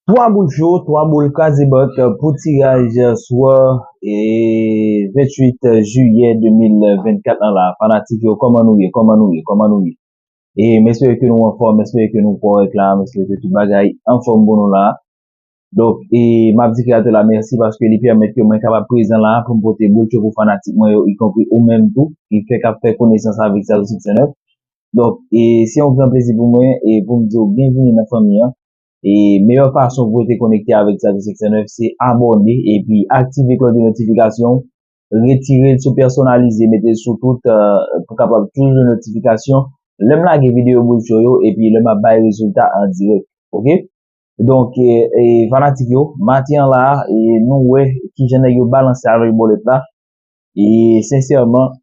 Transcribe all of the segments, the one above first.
3 boul cho, 3 boul kazebòt pou tiraj swa 28 jiyè 2024 lan la fanatik yo kòman nou ye kòman nou ye kòman nou ye e m espere ke nou anfòm m espere ke nou kòrèk la m espere ke tout bagay anfòm pou nou la donk e m ap di kreyatè la mèsi paske li pèmèt ke mwen kapab prezan la pou m pote boul cho pou fanatik mwen yo ikonpri ou menm tou ki fèk ap fè konesans avèk Sadosyksènèf Donk e se yon gran plezi pou mwen e pou m di w byenvini nan fanmi an. E meyè fason pou rete konekte avèk Xavier 509 se abòne epi aktive klòch de notifikasyon, retire l sou pèsonalize mete l sou tout pou kapab toujou jwenn notifikasyon lè m lage videyo bòl cho yo epi lè m ap bay rezilta an dirèk ok. Donk e fanatik yo maten an la e nou wè kijan nèg yo balanse avèk bòlèt la e sensèman.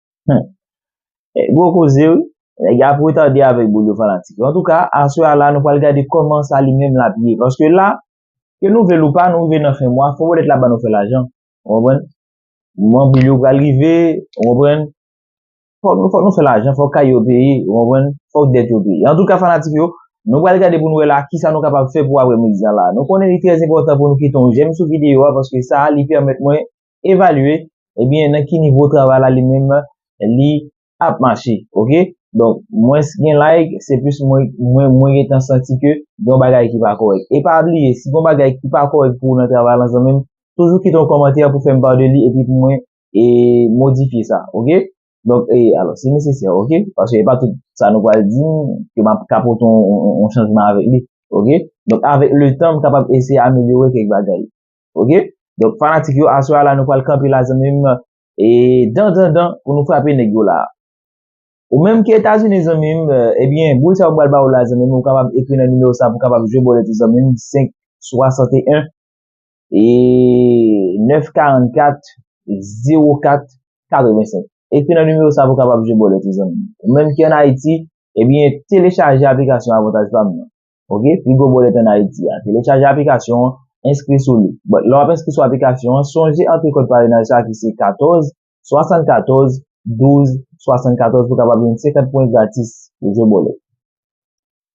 Humm gwo koze wi. Nèg yo ap retade avèk boul yo fanatik yo. Antouka aswè a la nou pral gade kòman sa li menm lap ye. Paske la ke nou vle l ou pa nou rive nan fen mwa fò wòlèt la ban nou fè lajan. Ou konprann? Moman bil yo pral rive ou konprann. Fòk nou fè lajan fòk kay yo peye ou konprann. Fòk dèt yo peye. Antouka fanatik yo nou pral gade pou nou wè la kisa nou kapab fè pou aprè midi an la. Nou konnen li trèzenpòtan pou nou kite yon jèm sou videyo a paske sa li pèmèt mwen evalye ebyen nan ki nivo travay la li menm li ap mache ok donk mwens gen like se plis mwen mwen gentan santi ke gon bagay ki pa kòrèk e pa bliye si gon bagay ki pa kòrèk pou ou nan travay la zanmim toujou kite yon kòmantè pou fèm pale de li epi pou mwen e modifye sa ok donk e alò si nesesè ok paske e pa tout sa nou pral di ke map ka pote yon chanjman avèk li ok donk avèk letan m kapab eseye amelyore kèk bagay. Ok Donk fanatik yo aswè a la nou pral kanpe la zanmi m E dan dan dan pou nou frape nèg yo la Ou menm ki etazini zanmi m Ebyen boul sa yo pral ba ou la zanmi m ou kapab ekri nan nimewo sa pou kapab jwe bòlèt ou zanmi m 5 61 E 9 44 0 4 85 Ekri nan nimewo sa pou kapab jwe bòlèt ou zanmi m Ou menm ki an ayiti Ebyen telechaje aplikasyon avantaj pa m nan Ok, pi gwo bòlèt an Ayiti a. Telechaje aplikasyon an, enskri sou li. But, lè w ap enskri sou aplikasyon an, sonje antre kòd parenaj sa ki se 14 74 12 74 pou kapab jwenn 50 pwen gratis pou jwe bòlèt.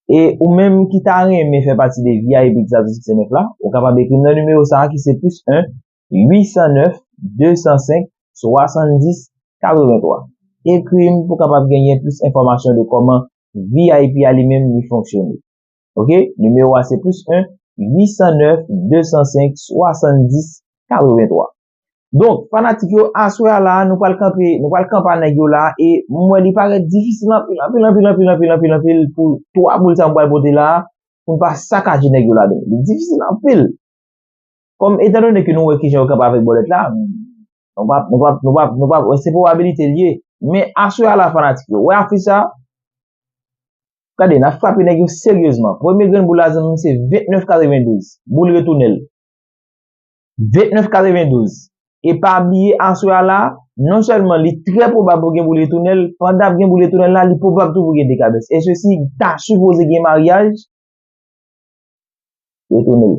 E ou menm ki ta renmen fè pati de vip Exato Siksè 9 la, ou kapab ekri m nan nimewo sa ki se plis 1 809 205 70 83 ekri m pou kapab genyen plis enfòmasyon de kòman vip a li menm li fonksyone ok nimewo a se plis 1 809 205 70 83 donk fanatik yo aswè a la nou pral kanpe nou pral kanpa nèg yo la e m wè li parèt difisil anpil anpil anpil anpil anpil anpil anpil pou 3 boul sa m pral pote la pou m pa sakaje nèg yo la donk li difisil anpil. Kòm etan done ke nou wè kijan yo kanpe avèk bòlèt la, nou pa, nou pa, nou pa, nou pa, se pwobabilite li ye. Men aswè a la fanatik yo, wè afich sa? Gade, n'ap frape nèg yo seryezman. Premye grenn boul la zanmi'm se 29 92. Boul retounen'l. 29 92. E pa bliye aswè a la, non sèlman li trè pwobab pou gen boul retounen'l, pandan ap gen boul retounen'l la, li pwobab tou pou gen dekabès. E sesi ta sipoze gen maryaj? Retounen'l.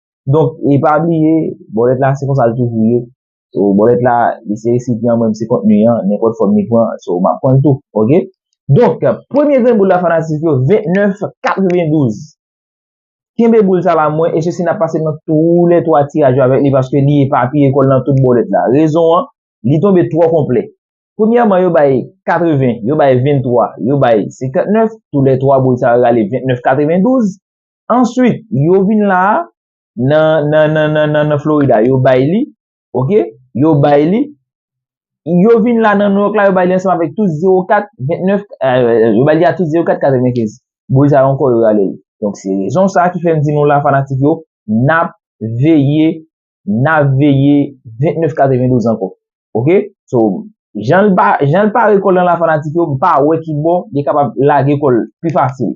Donk, e pa bliye, bòlèt la se konsa l toujou ye. So, bòlèt la, li se resipyan mwen, m se kontni an, nenpòt fòm li pran, so, m ap pran l tou. Ok? Donk, premye grenn boul la fanatik yo, 29,92. Kenbe boul sa la mwen, e se si n ap pase nan tou lè 3 tiraj yo avèk li, paske li epapiye kò l nan tout bòlèt la. Rezon an, li tonbe twò konplè. Premyèman, yo bay 80, yo bay 23, yo bay 59, tou lè 3 boul sa yo rale 29,92. Answit, yo vin la a, nan Florida, yo bay li, ok, yo bay li, yo vin la nan New York la, yo bay li ansanm avèk tout 04, 29, yo bay li a tout 04, 95. Boul sa ankò yo rale li. Donk se rezon sa a ki fè m di nou la fanatik yo, n ap veye, n ap veye 29, 92 ankò. Ok? So, jan l pa, jan l pare kò l lan la fanatik yo, m pa wè ki bò li kapab lage kò l pi fasil.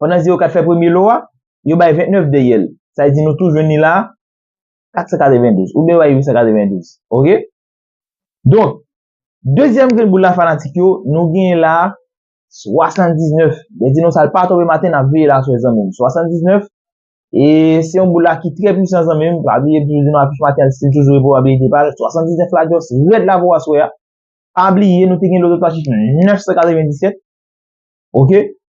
Pandan 0 4 fè premye lo a, yo bay 29 dèyè l. Sa vle di nou tou jwenn li la a, 492. Oubyen yo bay 892. Ok? Donk, dezyèm grenn boul la fanatik yo, nou genyen la a, 79. Lè di nou sa l pa tonbe maten, n ap veye la aswè zanmi m. 79, e se yon boul la ki trè pwisan zanmi m. Pa bliye m toujou di nou afich maten an li stil toujou repwobabilite pa l. 79 la just rèd la pou aswè a. Pa bliye nou te gen lòt lòt afich 997. Ok?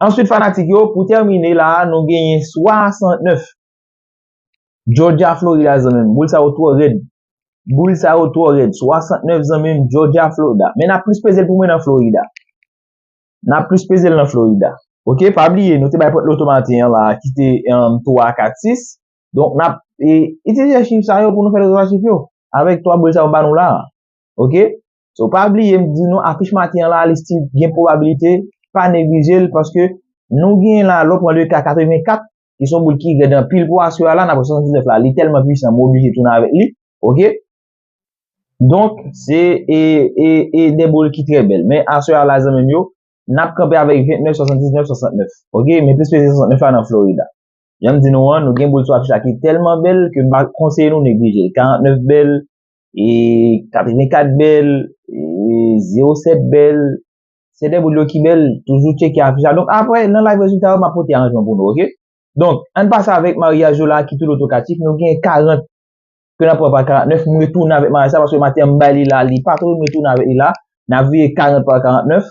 Answit fanatik yo, pou tèmine la a nou genyen 69. Georgia Florida zanmim, boul sa yo twò rèd. Boul sa yo twò rèd. 69 zanmim, Georgia Florida. Men nap plis pezel pou mwen nan Florida. Nap plis pezel nan Florida. Ok, pa bliye nou te bay pot loto maten an la a ki te 3, 4, 6. Donk nap itilize chif sa yo pou nou fè rezon a chif yo. Avèk 3 boul sa yo ba nou la a. Ok. So pa bliye m di nou afich maten an la li still gen pwobabilite pa neglije l paske nou gen la lò pran le ka 84 ki son boul ki rèd anpil pou aswè a la nan pran 79 la li tèlman pwisan m oblije tounen avèk li ok donk se e e e de boul ki trè bèl men aswè a la zanmi m yo n ap kanpe avèk 29 79 69 ok men plis peze 69 la nan Florida jan m di nou an nou gen boul sou afich la ki tèlman bèl ke m pa konseye nou neglije l 49 bèl 84 bèl, 07 bèl, se de boul yo ki bèl, toujou cheke afich la. Donk apre, nan live rezilta yo, ma pote aranjman pou nou, ok? Donk, an pase avèk maryaj yo la ki tout otokatif, nou gen 40, ke nan pran pa 49, m retounen avèk maryaj sa, paske maten m bay li la, li pa tou, m retounen avèk li la, nan veye 40 pa 49,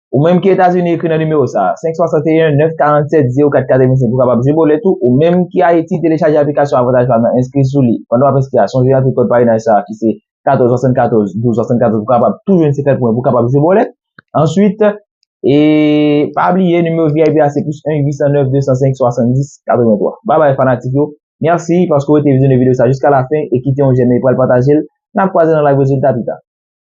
Ou menm ki Etazini ekri nan nimewo sa a, 561 947 04 85 ou kapab jwe bolet ou, ou menm ki Ayiti telechaje aplikasyon avantaj pa nan enskri sou li, pandan w ap enskri a sonje antre kòd parenaj sa a ki se 14 74 12 74 pou kapab tou jwenn 50 pwen pou kapab jwe bolet. Answit e pa bliye nimewo vip a se plis 1 809 205 70 83. Babay fanatik yo, mèsi paske w rete vizyone videyo sa jiska lafen e kite yon jèm e pral pataje l, n ap kwaze nan live rezilta pita.